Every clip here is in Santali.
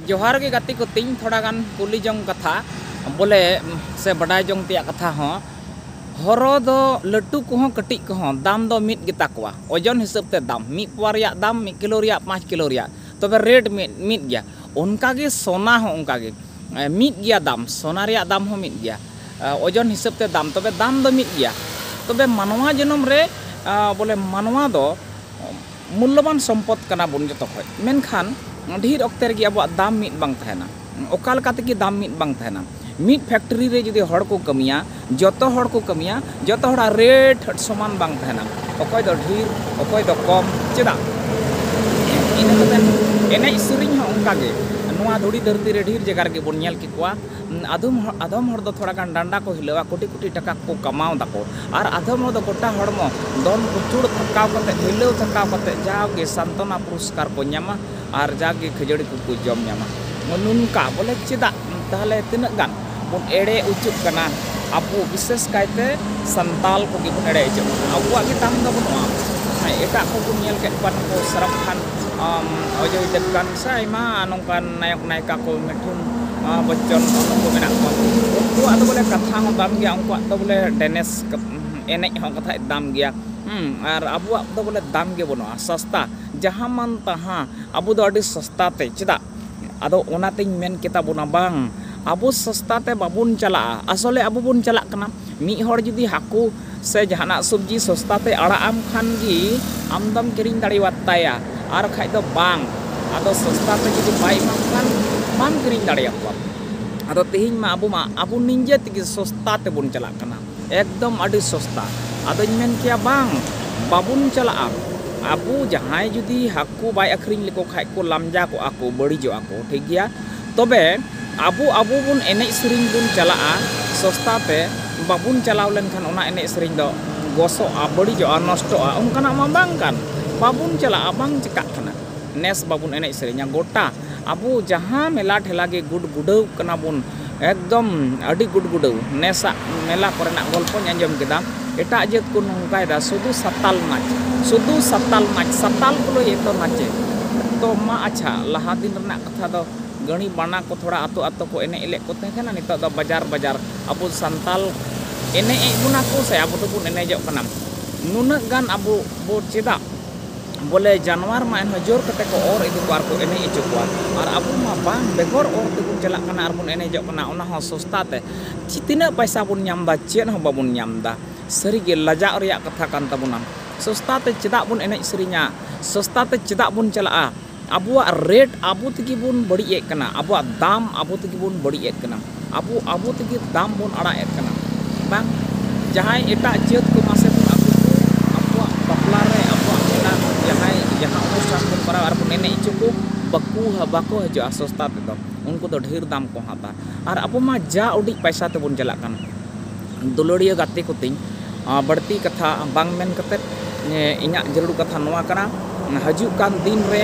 ᱡᱚᱦᱟᱨ ᱜᱮ ᱜᱟᱛᱮ ᱠᱚ ᱛᱤᱧ ᱛᱷᱚᱲᱟ ᱜᱟᱱ ᱠᱩᱞᱤ ᱡᱚᱝ ᱠᱟᱛᱷᱟ ᱵᱚᱞᱮ ᱥᱮ ᱵᱟᱰᱟᱭ ᱡᱚᱝ ᱛᱮᱭᱟᱜ ᱠᱟᱛᱷᱟ ᱦᱚᱸ ᱦᱚᱨᱚ ᱫᱚ ᱞᱟᱹᱴᱩ ᱠᱚᱦᱚᱸ ᱠᱟᱹᱴᱤᱡ ᱠᱚᱦᱚᱸ ᱫᱟᱢ ᱫᱚ ᱢᱤᱫ ᱜᱮᱛᱟ ᱠᱚᱣᱟ ᱳᱡᱚᱱ ᱦᱤᱥᱟᱹᱵ ᱛᱮ ᱫᱟᱢ ᱢᱤᱫ ᱯᱳᱣᱟ ᱨᱮᱭᱟᱜ ᱫᱟᱢ ᱢᱤᱫ ᱠᱤᱞᱳ ᱨᱮᱭᱟᱜ ᱯᱟᱸᱪ ᱠᱤᱞᱳ ᱨᱮᱭᱟᱜ ᱛᱚᱵᱮ ᱨᱮᱴ ᱢᱤᱫ ᱢᱤᱫ ᱜᱮᱭᱟ ᱚᱱᱠᱟ ᱜᱮ ᱥᱚᱱᱟ ᱦᱚᱸ ᱚᱱᱠᱟ ᱜᱮ ᱢᱤᱫ ᱜᱮᱭᱟ ᱫᱟᱢ ᱥᱚᱱᱟ ᱨᱮᱭᱟᱜ ᱫᱟᱢ ᱦᱚᱸ ᱢᱤᱫ ᱜᱮᱭᱟ ᱳᱡᱚᱱ ᱦᱤᱥᱟᱹᱵ ᱛᱮ ᱫᱟᱢ ᱛᱚᱵᱮ ᱫᱟᱢ ᱫᱚ ᱢᱤᱫ ᱜᱮᱭᱟ ᱛᱚᱵᱮ ᱢᱟᱱᱣᱟ ᱡᱚᱱᱚᱢ ᱨᱮ ᱵᱚᱞᱮ ᱢᱟᱱᱣᱟ ᱫᱚ ᱢᱩᱞᱞᱚᱵᱟᱱ ᱥᱚᱢᱯᱚᱫᱽ ᱠᱟᱱᱟ ᱵᱚᱱ ᱡᱚᱛᱚ ᱠᱷᱚᱡ᱾ ᱢᱮᱱᱠᱷᱟᱱ ᱰᱷᱤᱨ ᱚᱠᱛᱮ ᱨᱮᱜᱮ ᱟᱵᱚᱣᱟᱜ ᱫᱟᱢ ᱢᱤᱫ ᱵᱟᱝ ᱛᱟᱦᱮᱸᱱᱟ᱾ ᱚᱠᱟ ᱞᱮᱠᱟ ᱛᱮᱜᱮ ᱫᱟᱢ ᱢᱤᱫ ᱵᱟᱝ ᱛᱟᱦᱮᱸᱱᱟ᱾ ᱢᱤᱫ ᱯᱷᱮᱠᱴᱨᱤ ᱨᱮ ᱡᱩᱫᱤ ᱦᱚᱲ ᱠᱚ ᱠᱟᱹᱢᱤᱭᱟ, ᱡᱚᱛᱚ ᱦᱚᱲ ᱠᱚ ᱠᱟᱹᱢᱤᱭᱟ, ᱡᱚᱛᱚ ᱦᱚᱲᱟᱜ ᱨᱮᱴ ᱥᱚᱢᱟᱱ ᱵᱟᱝ ᱛᱟᱦᱮᱸᱱᱟ᱾ ᱚᱠᱚᱭ ᱫᱚ ᱰᱷᱤᱨ, ᱚᱠᱚᱭ ᱫᱚ ᱠᱚᱢ᱾ ᱪᱮᱫᱟᱜ? ᱤᱱᱟᱹ ᱠᱟᱛᱮ ᱮᱱᱮᱡ ᱥᱮᱨᱮᱧ ᱦᱚᱸ ᱚᱱᱠᱟ ᱜᱮ᱾ ᱱᱚᱣᱟ ᱫᱷᱩᱲᱤ ᱫᱷᱟᱹᱨᱛᱤ ᱨᱮ ᱰᱷᱤᱨ ᱡᱟᱭᱜᱟ ᱨᱮᱜᱮ ᱵᱚᱱ ᱧᱮᱞ ᱠᱮᱠᱚᱣᱟ᱾ ᱟᱫᱚᱢ ᱟᱫᱚᱢ ᱦᱚᱲ ᱫᱚ ᱛᱷᱚᱲᱟ ᱜᱟᱱ ᱰᱟᱸᱰᱟ ᱠᱚ ᱦᱤᱞᱟᱹᱣᱟ ᱠᱳᱴᱤ ᱠᱳᱴᱤ ᱴᱟᱠᱟ ᱠᱚ ᱠᱟᱢᱟᱣ ᱫᱟᱠᱚ ᱟᱨ ᱟᱫᱚᱢ ᱦᱚᱲ ᱫᱚ ᱜᱚᱴᱟ ᱦᱚᱲᱢᱚ ᱫᱚᱱ ᱠᱩᱪᱩᱲ ᱛᱷᱟᱠᱟᱣ ᱠᱟᱛᱮ ᱦᱤᱞᱟᱹᱣ ᱛᱷᱟᱠᱟᱣ ᱠᱟᱛᱮ ᱡᱟᱣᱜᱮ ᱥᱟᱱᱛᱚᱱᱟ ᱯᱩᱨᱚᱥᱠᱟᱨ ᱠᱚ ᱧᱟᱢᱟ ᱟᱨ ᱡᱟᱜᱮ ᱠᱷᱟᱹᱡᱟᱹᱲᱤ ᱠᱚᱠᱚ ᱡᱚᱢ ᱧᱟᱢᱟ ᱱᱚᱝᱠᱟ ᱵᱚᱞᱮ ᱪᱮᱫᱟᱜ ᱛᱟᱦᱚᱞᱮ ᱛᱤᱱᱟᱹᱜ ᱜᱟᱱ ᱵᱚᱱ ᱮᱲᱮ ᱚᱪᱚᱜ ᱠᱟᱱᱟ ᱟᱵᱚ ᱵᱤᱥᱮᱥ ᱠᱟᱭᱛᱮ ᱥᱟᱱᱛᱟᱞ ᱠᱚᱜᱮ ᱵᱚᱱ ᱮᱲᱮ ᱚᱪᱚᱜ ᱠᱟᱱᱟ ᱟᱵᱚᱣᱟᱜ ᱜᱮ ᱫᱟᱢ ᱫᱚ ᱵᱟᱹᱱᱩᱜᱼᱟ ᱮᱴᱟᱜ ᱠᱚᱵᱚᱱ ᱧᱮᱞ ᱠᱮᱫ ᱠᱚᱣᱟ ᱱᱩᱠᱩ ᱥᱟᱨᱚᱵᱽ ᱠᱷᱟᱱ ᱚᱡᱚᱭ ᱫᱮᱵᱽᱜᱟᱱ ᱥᱮ ᱟᱭᱢᱟ ᱱᱚᱝᱠᱟᱱ ᱱᱟᱭᱚᱠ ᱱᱟᱭᱤᱠᱟ ᱠᱚ ᱢᱤᱴᱷᱩᱱ ᱵᱚᱪᱪᱚᱱ ᱩᱱᱠᱩ ᱢᱮᱱᱟᱜ ᱠᱚᱣᱟ ᱩᱱᱠᱩᱣᱟᱜ ᱫᱚ ᱵᱚᱞᱮ ᱠᱟᱛᱷᱟ ᱦᱚᱸ ᱫᱟᱢ ᱜᱮᱭᱟ ᱩᱱᱠᱩᱣᱟᱜ ᱫᱚ ᱵᱚᱞᱮ ᱰᱮᱱᱮᱥ ᱮᱱᱮᱡ ᱦᱚᱸ ᱠᱟᱛᱷᱟᱡ ᱫᱟᱢ ᱜᱮᱭᱟ ᱟᱨ ᱟᱵᱚᱣᱟᱜ ᱫᱚ ᱵᱚᱞᱮ ᱫᱟᱢ ᱜᱮ ᱵᱟᱹᱱᱩᱜᱼᱟ ᱥᱚᱥᱛᱟ ᱡᱟᱦᱟᱸ ᱢᱟᱱ ᱛᱟᱦᱟᱸ ᱟᱵᱚ ᱫᱚ ᱟᱹᱰᱤ ᱥᱚᱥᱛᱟ ᱛᱮ ᱪᱮᱫᱟᱜ ᱟᱫᱚ ᱚᱱᱟᱛᱤᱧ ᱢᱮᱱ ᱠᱮᱛᱟ ᱵᱚᱱᱟ ᱵᱟᱝ ᱟᱵᱚ ᱥᱚᱥᱛᱟ ᱛᱮ ᱵᱟᱵᱚᱱ ᱪᱟᱞᱟᱜᱼᱟ ᱟᱥᱚᱞᱮ ᱟᱵᱚ ᱵᱚᱱ ᱪᱟᱞᱟᱜ ᱠᱟᱱᱟ ᱢᱤᱫ ᱦᱚᱲ ᱡᱩᱫᱤ ᱦᱟᱹᱠᱩ ᱥᱮ ᱡᱟᱦᱟᱱᱟᱜ ᱥᱚᱵᱽᱡᱤ ᱥᱚᱥᱛᱟ ᱛᱮ ᱟᱲᱟᱜ ᱟᱢ ᱠᱷᱟᱱ ᱜᱮ ᱟᱢ ᱫᱚᱢ ᱠᱤᱨᱤᱧ ᱫᱟᱲᱮᱭᱟᱫ ᱛᱟᱭᱟ ᱟᱨ ᱵᱟᱠᱷᱟᱡ ᱫᱚ ᱵᱟᱝ ᱟᱫᱚ ᱥᱚᱥᱛᱟ ᱛᱮ ᱡᱩᱫᱤ ᱵᱟᱭ ᱮᱢᱟᱢ ᱠᱷᱟᱱ ᱵᱟᱢ ᱠᱤᱨᱤᱧ ᱫᱟᱲᱮᱭᱟᱠᱚᱣᱟ ᱟᱫᱚ ᱛᱮᱦᱮᱧ ᱢᱟ ᱟᱵᱚ ᱢᱟ ᱟᱵᱚ ᱱᱤᱡᱮ ᱛᱮᱜᱮ ᱥᱚᱥᱛᱟ ᱛᱮᱵᱚᱱ ᱪᱟᱞᱟᱜ ᱠᱟᱱᱟ ᱮᱠᱫᱚᱢ ᱟᱹᱰᱤ ᱥᱚᱥᱛᱟ ᱟᱫᱚᱧ ᱢᱮᱱ ᱠᱮᱭᱟ ᱵᱟᱝ ᱵᱟᱵᱚᱱ ᱪᱟᱞᱟᱜᱼᱟ ᱟᱵᱚ ᱡᱟᱦᱟᱸᱭ ᱡᱩᱫᱤ ᱦᱟᱹᱠᱩ ᱵᱟᱭ ᱟᱹᱠᱷᱨᱤᱧ ᱞᱮᱠᱚ ᱠᱷᱟᱡ ᱠᱚ ᱞᱟᱢᱡᱟ ᱠᱚᱜᱼᱟ ᱠᱚ ᱵᱟᱹᱲᱤᱡᱚᱜᱼᱟ ᱠᱚ ᱴᱷᱤᱠ ᱜᱮᱭᱟ ᱛᱚᱵᱮ ᱟᱵᱚ ᱟᱵᱚ ᱵᱚᱱ ᱮᱱᱮᱡ ᱥᱮᱨᱮᱧ ᱵᱚᱱ ᱪᱟᱞᱟᱜᱼᱟ ᱥᱚᱥᱛᱟ ᱛᱮ ᱵᱟᱵᱚᱱ ᱪᱟᱞᱟᱣ ᱞᱮᱱᱠᱷᱟᱱ ᱚᱱᱟ ᱮᱱᱮᱡ ᱥᱮᱨᱮᱧ ᱫᱚ ᱜᱚᱥᱚᱜᱼᱟ ᱵᱟᱹᱲᱤᱡᱚᱜᱼᱟ ᱱᱚᱥᱴᱚᱜᱼᱟ ᱚᱱᱠᱟᱱᱟᱜ ᱢᱟ ᱵᱟᱝ ᱠᱟᱱ ᱵᱟᱵᱚᱱ ᱪᱟᱞᱟᱜᱼᱟ ᱵᱟᱝ ᱪᱤᱠᱟᱹᱜ ᱠᱟᱱᱟ ᱱᱮᱥ ᱵᱟᱵᱚᱱ ᱮᱱᱮᱡ ᱥᱮᱨᱮᱧᱟ ᱜᱚᱴᱟ ᱟᱵᱚ ᱡᱟᱦᱟᱸ ᱢᱮᱞᱟ ᱴᱷᱮᱞᱟ ᱜᱮ ᱜᱩᱰ ᱜᱩᱰᱟᱹᱣ ᱠᱟᱱᱟ ᱵᱚᱱ ᱮᱠᱫᱚᱢ ᱟᱹᱰᱤ ᱜᱩᱰ ᱜᱩᱰᱟᱹᱣ ᱱᱮᱥᱟᱜ ᱢᱮᱞᱟ ᱠᱚᱨᱮᱱᱟᱜ ᱜᱚᱞᱯᱚᱧ ᱟᱸᱡᱚᱢ ᱠᱮᱫᱟ ᱮᱴᱟᱜ ᱡᱟᱹᱛ ᱠᱚ ᱱᱚᱝᱠᱟᱭᱮᱫᱟ ᱥᱩᱫᱩ ᱥᱟᱱᱛᱟᱲ ᱱᱟᱪ ᱥᱩᱫᱩ ᱥᱟᱱᱛᱟᱲ ᱱᱟᱪ ᱥᱟᱱᱛᱟᱲ ᱠᱚ ᱞᱟᱹᱭᱮᱫ ᱫᱚ ᱱᱟᱪᱮ ᱛᱚ ᱢᱟ ᱟᱪᱪᱷᱟ ᱞᱟᱦᱟ ᱫᱤᱱ ᱨᱮᱱᱟᱜ ᱠᱟᱛᱷᱟ ᱫᱚ ᱜᱟᱹᱬᱤ ᱵᱟᱱᱟ ᱠᱚ ᱛᱷᱚᱲᱟ ᱟᱛᱳ ᱟᱛᱳ ᱠᱚ ᱮᱱᱮᱡ ᱞᱮᱫ ᱠᱚ ᱛᱟᱦᱮᱸ ᱠᱟᱱᱟ ᱱᱤᱛᱚᱜ ᱫᱚ ᱵᱟᱡᱟᱨ ᱵᱟᱡᱟᱨ ᱟᱵᱚ ᱥᱟᱱᱛᱟᱲ ᱮᱱᱮᱡ ᱮᱫ ᱵᱚᱱᱟ ᱠᱚ ᱥᱮ ᱟᱵᱚ ᱫᱚᱵᱚᱱ ᱮᱱᱮᱡᱚᱜ ᱠᱟᱱᱟ ᱱᱩᱱᱟᱹᱜ ᱜᱟᱱ ᱟᱵᱚ ᱵᱚ ᱪᱮᱫᱟᱜ ᱵᱚᱞᱮ ᱡᱟᱱᱣᱟᱨ ᱢᱟ ᱮᱱᱦᱚᱸ ᱡᱳᱨ ᱠᱟᱛᱮᱫ ᱠᱚ ᱚᱨ ᱤᱫᱤ ᱠᱚᱣᱟ ᱟᱨ ᱠᱚ ᱮᱱᱮᱡ ᱦᱚᱪᱚ ᱠᱚᱣᱟ ᱟᱨ ᱟᱵᱚ ᱢᱟ ᱵᱟᱝ ᱵᱮᱜᱚᱨ ᱚᱨ ᱛᱮᱵᱚᱱ ᱪᱟᱞᱟᱜ ᱠᱟᱱᱟ ᱟᱨ ᱵᱚᱱ ᱮᱱᱮᱡᱚᱜ ᱠᱟᱱᱟ ᱚᱱᱟ ᱦᱚᱸ ᱥᱚᱥᱛᱟ ᱛᱮ ᱛᱤᱱᱟᱹᱜ ᱯᱚᱭᱥᱟ ᱵᱚᱱ ᱧᱟᱢ ᱮᱫᱟ ᱪᱮᱫ ᱦᱚᱸ ᱵᱟᱵᱚᱱ ᱧᱟᱢ ᱮᱫᱟ ᱥᱟᱹᱨᱤ ᱜᱮ ᱞᱟᱡᱟᱜ ᱨᱮᱭᱟᱜ ᱠᱟᱛᱷᱟ ᱠᱟᱱ ᱛᱟᱵᱚᱱᱟ ᱥᱚᱥᱛᱟ ᱛᱮ ᱪᱮᱫᱟᱜ ᱵᱚᱱ ᱮᱱᱮᱡ ᱥᱮᱨᱮᱧᱟ ᱥᱚᱥᱛᱟ ᱛᱮ ᱪᱮᱫᱟᱜ ᱵᱚᱱ ᱪᱟᱞᱟᱜᱼᱟ ᱟᱵᱚᱣᱟᱜ ᱨᱮᱴ ᱟᱵᱚ ᱛᱮᱜᱮ ᱵᱚᱱ ᱵᱟᱹᱲᱤᱡ ᱮᱫ ᱠᱟᱱᱟ ᱟᱵᱚᱣᱟᱜ ᱫᱟᱢ ᱟᱵᱚ ᱛᱮᱜᱮ ᱵᱚᱱ ᱵᱟᱹᱲᱤᱡ ᱮᱫ ᱠᱟᱱᱟ ᱟᱵᱚ ᱟᱵᱚ ᱛᱮᱜᱮ ᱫᱟᱢ ᱵᱚᱱ ᱟᱲᱟᱜ ᱮᱫ ᱠᱟᱱᱟ ᱵᱟᱝ ᱡᱟᱦᱟᱸᱭ ᱮᱴᱟᱜ ᱡᱟᱹᱛ ᱠᱚ ᱢᱟᱥᱮ ᱵᱚᱱ ᱟᱠᱚ ᱠᱚ ᱟᱠᱚᱣᱟᱜ ᱵᱟᱯᱞᱟ ᱨᱮ ᱟᱠᱚᱣᱟᱜ ᱢᱮᱞᱟ ᱨᱮ ᱡᱟᱦᱟᱸᱭ ᱡᱟᱦᱟᱸ ᱚᱱᱩᱥᱴᱷᱟᱱ ᱵᱚᱱ ᱠᱚᱨᱟᱣᱟ ᱟᱨ ᱵᱚᱱ ᱮᱱᱮᱡ ᱦᱚᱪᱚ ᱠᱚ ᱵᱟᱠᱚ ᱵᱟᱠᱚ ᱦᱤᱡᱩᱜᱼᱟ ᱥᱚᱥᱛᱟ ᱛᱮᱫᱚ ᱩᱱᱠᱩ ᱫᱚ ᱰᱷᱮᱨ ᱫᱟᱢ ᱠᱚ ᱦᱟᱛᱟᱣᱟ ᱟᱨ ᱟᱵᱚ ᱢᱟ ᱡᱟ ᱩᱰᱤᱡ ᱯᱚᱭᱥᱟ ᱛᱮᱵᱚᱱ ᱪᱟᱞᱟᱜ ᱠᱟᱱ ᱫᱩᱞᱟᱹᱲᱤᱭᱟᱹ ᱜᱟᱛᱮ ᱠᱚᱛᱤᱧ ᱵᱟᱹᱲᱛᱤ ᱠᱟᱛᱷᱟ ᱵᱟᱝ ᱢᱮᱱ ᱠᱟᱛᱮᱫ ᱤᱧᱟᱹᱜ ᱡᱟᱹᱨᱩᱲ ᱠᱟᱛᱷᱟ ᱱᱚᱣᱟ ᱠᱟᱱᱟ ᱦᱤᱡᱩᱜ ᱠᱟᱱ ᱫᱤᱱ ᱨᱮ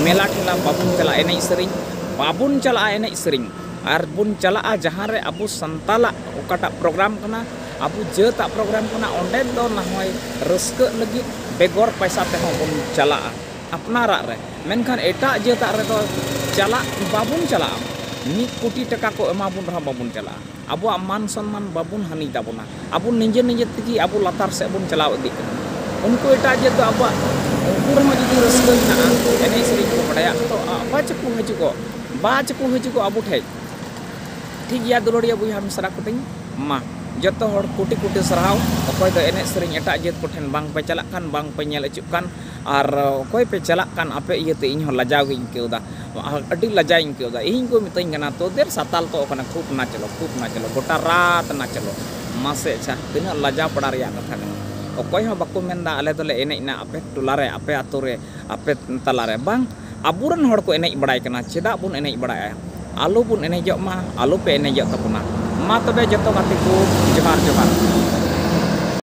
ᱢᱮᱞᱟ ᱴᱷᱮᱞᱟ ᱵᱟᱵᱚᱱ ᱪᱟᱞᱟᱜᱼᱟ ᱮᱱᱮᱡ ᱥᱮᱨᱮᱧ ᱵᱟᱵᱚᱱ ᱪᱟᱞᱟᱜᱼᱟ ᱮᱱᱮᱡ ᱥᱮᱨᱮᱧ ᱟᱨ ᱵᱚᱱ ᱪᱟᱞᱟᱜᱼᱟ ᱡᱟᱦᱟᱸ ᱨᱮ ᱟᱵᱚ ᱥᱟᱱᱛᱟᱲᱟᱜ ᱚᱠᱟᱴᱟᱜ ᱯᱨᱳᱜᱨᱟᱢ ᱠᱟᱱᱟ ᱟᱵᱚ ᱡᱟᱹᱛᱟᱜ ᱯᱨᱳᱜᱨᱟᱢ ᱠᱟᱱᱟ ᱚᱸᱰᱮ ᱫᱚ ᱱᱟ ᱦᱚᱭ ᱨᱟᱹᱥᱠᱟᱹᱜ ᱞᱟᱹᱜᱤᱫ ᱵᱮᱜᱚᱨ ᱯᱚᱭᱥᱟ ᱛᱮᱦᱚᱸ ᱵᱚᱱ ᱪᱟᱞᱟᱜᱼᱟ ᱟᱯᱱᱟᱨᱟᱜ ᱨᱮ ᱢᱮᱱᱠᱷᱟᱱ ᱮᱴᱟᱜ ᱡᱟᱹᱛᱟᱜ ᱨᱮᱫᱚ ᱪᱟᱞᱟᱜ ᱵᱟᱵᱚᱱ ᱪᱟᱞᱟᱜᱼᱟ ᱢᱤᱫ ᱠᱳᱴᱤ ᱴᱟᱠᱟ ᱠᱚ ᱮᱢᱟ ᱵᱚᱱ ᱨᱮᱦᱚᱸ ᱵᱟᱵᱚᱱ ᱪᱟᱞᱟᱜᱼᱟ ᱟᱵᱚᱣᱟᱜ ᱢᱟᱱ ᱥᱚᱱᱢᱟᱱ ᱵᱟᱵᱚᱱ ᱦᱟᱹᱱᱤᱭ ᱛᱟᱵᱚᱱᱟ ᱟᱵᱚ ᱱᱤᱡᱮ ᱱᱤᱡᱮ ᱛᱮᱜᱮ ᱟᱵᱚ ᱞᱟᱛᱟᱨ ᱥᱮᱫ ᱵᱚᱱ ᱪᱟᱞᱟᱣ ᱤᱫᱤᱜ ᱠᱟᱱᱟ ᱩᱱᱠᱩ ᱮᱴᱟᱜ ᱡᱟᱹᱛ ᱫᱚ ᱟᱵᱚᱣᱟᱜ ᱩᱱᱠᱩ ᱨᱮᱦᱚᱸ ᱡᱩᱫᱤ ᱨᱟᱹᱥᱠᱟᱹ ᱢᱮᱱᱟᱜᱼᱟ ᱮᱱᱮᱡ ᱥᱮᱨᱮᱧ ᱠᱚ ᱵᱟᱰᱟᱭᱟ ᱛᱚ ᱟᱵᱟᱨ ᱪᱮᱫ ᱠᱚ ᱦᱤᱡᱩᱜᱚᱜ ᱵᱟ ᱪᱮᱫ ᱠᱚ ᱦᱤᱡᱩᱜᱚᱜ ᱟᱵᱚ ᱴᱷᱮᱱ ᱴᱷᱤᱠ ᱜᱮᱭᱟ ᱫᱩᱞᱟᱹᱲᱤᱭᱟᱹ ᱵᱚᱭᱦᱟ ᱢᱤᱥᱨᱟ ᱠᱚᱛᱤᱧ ᱢᱟ ᱡᱚᱛᱚ ᱦᱚᱲ ᱠᱩᱴᱤ ᱠᱩᱴᱤ ᱥᱟᱨᱦᱟᱣ ᱚᱠᱚᱭ ᱫᱚ ᱮᱱᱮᱡ ᱥᱮᱨᱮᱧ ᱮᱴᱟᱜ ᱡᱟᱹᱛ ᱠᱚᱴᱷᱮᱱ ᱵᱟᱝ ᱯᱮ ᱪᱟᱞᱟᱜ ᱠᱟᱱ ᱵᱟᱝ ᱯᱮ ᱧᱮᱞ ᱦᱚᱪᱚᱜ ᱠᱟᱱ ᱟᱨ ᱚᱠᱚᱭ ᱯᱮ ᱪᱟᱞᱟᱜ ᱠᱟᱱ ᱟᱯᱮ ᱤᱭᱟᱹᱛᱮ ᱤᱧ ᱦᱚᱸ ᱞᱟᱡᱟᱣ ᱜᱮᱧ ᱟᱹᱭᱠᱟᱹᱣ ᱮᱫᱟ ᱟᱹᱰᱤ ᱞᱟᱡᱟᱣᱤᱧ ᱟᱹᱭᱠᱟᱹᱣ ᱮᱫᱟ ᱤᱧ ᱠᱚ ᱢᱤᱛᱟᱹᱧ ᱠᱟᱱᱟ ᱛᱳᱫᱮᱨ ᱥᱟᱛᱟᱞ ᱛᱚ ᱠᱟᱱᱟ ᱠᱷᱩᱵ ᱱᱟᱪᱞᱚ ᱠᱷᱩᱵ ᱱᱟᱪᱞᱚ ᱜᱚᱴᱟ ᱨᱟᱛ ᱱᱟᱪᱞᱚ ᱢᱟᱥᱮ ᱟᱪᱪᱷᱟ ᱛᱤᱱᱟᱹᱜ ᱞᱟᱡᱟᱣ ᱯᱟᱲᱟᱣ ᱨᱮᱭᱟᱜ ᱠᱟᱛᱷᱟ ᱠᱟᱱᱟ ᱚᱠᱚᱭ ᱦᱚᱸ ᱵᱟᱠᱚ ᱢᱮᱱ ᱮᱫᱟ ᱟᱞᱮ ᱫᱚᱞᱮ ᱮᱱᱮᱡ ᱮᱱᱟ ᱟᱯᱮ ᱴᱚᱞᱟ ᱨᱮ ᱟᱯᱮ ᱟᱹᱛᱩ ᱨᱮ ᱟᱯᱮ ᱛᱟᱞᱟ ᱨᱮ ᱵᱟᱝ ᱟᱵᱚ ᱨᱮᱱ ᱦᱚᱲ ᱠᱚ ᱮᱱᱮᱡ ᱵᱟᱲᱟᱭ ᱠᱟᱱᱟ ᱪᱮᱫᱟᱜ ᱵᱚᱱ ᱮᱱᱮᱡ ᱵᱟᱲᱟᱭᱟ ᱟᱞᱚ ᱵᱚᱱ ᱮᱱᱮᱡᱚᱜ ᱢᱟ ᱟᱞᱚ ᱯᱮ ᱮᱱᱮᱡᱚᱜ ᱛᱟᱵᱚᱱᱟ ᱢᱟ ᱛᱚᱵᱮ ᱡᱚᱛᱚ ᱜᱟᱛᱮ ᱠᱚ ᱡᱚᱦᱟᱨ ᱡᱚᱦᱟᱨ